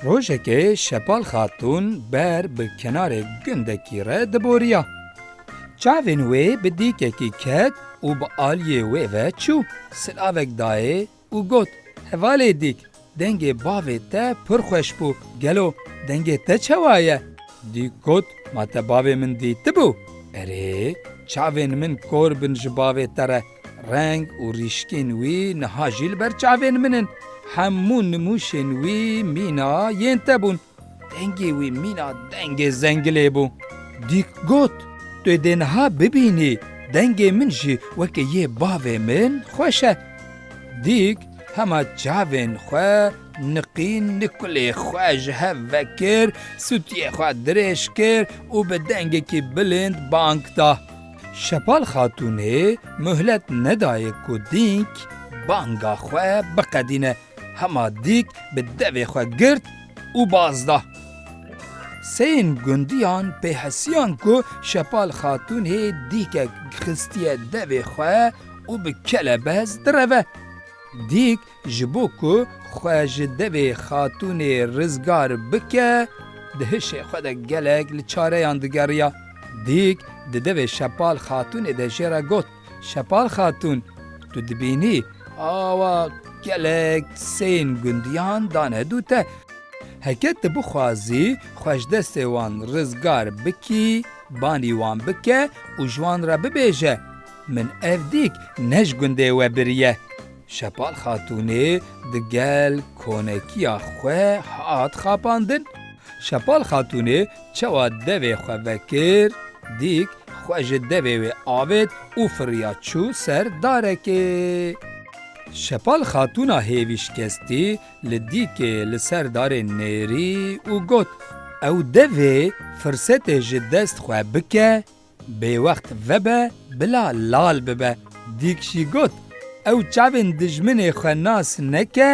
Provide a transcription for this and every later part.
Rojekê Şepal Xatûn ber bi kenarê gundekî re diboriya. Çavên wê bi dîkekî ket û bi aliyê wê ve çû. Silavek dayê Û got, Hevalê dîk, dengê bavê te pir xweş bû, gelo dengê te çewa ye? Dîk got, Ma te bavê min dîtibû? Erê, çavên min kor bin ji bavê te re, reng û rîşkên wî niha jî li ber çavên min in. Hemû nimûşên wî mîna yên te bûn. Dengê wî mîna dengê zengilê bû. Dîk got, Tu dê niha bibînî, dengê min jî wekî yê bavê min xweş e. Dîk hema çavên xwe niqîn nikulê xwe ji hev vekir, sûtiyê xwe dirêj kir û bi dengekî bilind bang da. Şepal Xatûnê muhlet nedaye ku Dîk banga xwe biqedîne. Hema dîk bi devê xwe girt û baz da. Seyên gundiyan pê hesiyan ku Şepal Xatûnê dîkek xistiye devê xwe û bi kelebez direve. Dîk ji bo ku xwe ji devê Xatûnê rizgar bike, di hişê xwe de gelek li çareyan digeriya. Dîk di devê Şepal Xatûnê de jê re got. Şepal Xatûn, Tu dibînî awa gelek seyên gundiyan dane dû te. Heke tu bixwazî xwe ji destê wan rizgar bikî, banî wan bike û ji wan re bibêje, Min ev dîk ne ji gundê we biriye. Şepal Xatûnê digel konekiya xwe hat xapandin. Şepal Xatûnê Çawa devê xwe vekir, dîk xwe ji devê wê avêt û firiya çû ser darekê. Şepal xatûna hêvî şikestî li dîkê li ser darê nêrî û got, Ew devê firsetê ji dest xwe bike, Bêwext vebe bila lal bibe. Dîk jî got, Ew çavên dijminê xwe nas neke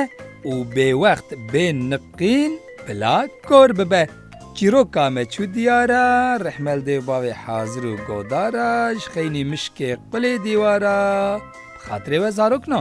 û bêwext bê niqîn bila kor bibe. Çîroka me çû diyar a, Rihmeldêv bavê Hazir û Godar a, ji xeynî mişkê qulê dîwar a. Bi xatirê we zarok na.